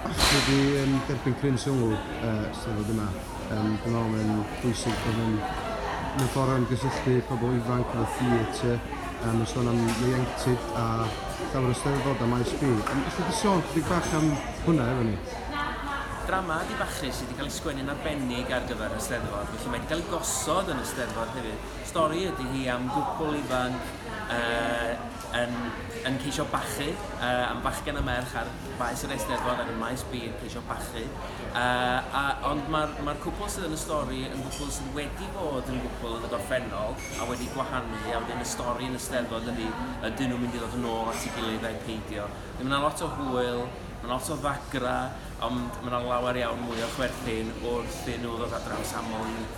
Dwi wedi um, derbyn cryn sylw uh, sydd fod yma. Um, dwi'n meddwl mae'n bwysig bod yn mewn ffordd am gysylltu pobl ifanc efo theatr, um, yn sôn am ieuenctid a llawer o steddfod a maes B. Um, Ydych wedi sôn chydig bach am hwnna efo ni? Drama di bachu sydd wedi cael ei sgwennu'n arbennig ar gyfer y steddfod, felly mae wedi cael ei gosod yn y steddfod hefyd. Stori ydy hi am gwbl ifanc uh, yn, yn ceisio bachu uh, am bachgen a merch ar Maes yr Eisteddfod ac yn Maes B yn ceisio bachu. Uh, a, ond mae'r ma cwpl sydd yn y stori yn gwpl sydd wedi bod yn gwpl yn y gorffennol a wedi gwahanu a wedyn y stori yn y steddfod ydy ydyn nhw'n mynd i ddod yn ôl at ei gilydd a'i peidio. Mae yna lot o hwyl, mae yna lot o ddagra, ond mae yna lawer iawn mwy o chwerthin wrth i nhw ddod adre am samol i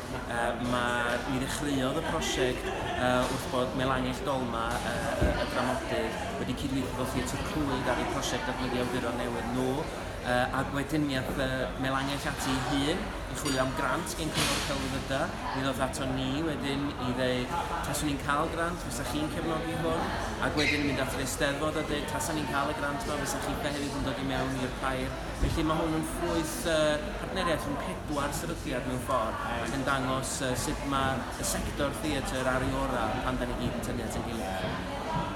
Yy ma'... Mi ddechreuodd y prosiect yy wrth bod Melangyll Dolma, yy yy y dramodydd, wedi cydweithio efo Theatr Clwyd ar y prosiect datblygu awduron newydd nhw, yy ac wedyn mi ath yy Melangyll ati ei hun i chwilio am grant gen Cyngor Celfyddyda, mi ddoth aton ni wedyn i ddeud taswn ni'n cael grant, fysach chi'n cefnogi hwn? Ac wedyn yn mynd at yr Eisteddfod a deud tasan ni'n cael y grant 'ma fysach chi hefyd yn dod i mewn i'r pair? Felly ma' hwn yn ffrwyth yy partneriaeth rhwng pedwar sefydliad mewn ffordd ac yn dangos sut mae y sector theatr ar ei orau pan 'da ni gyd yn tynnu at ein gilydd.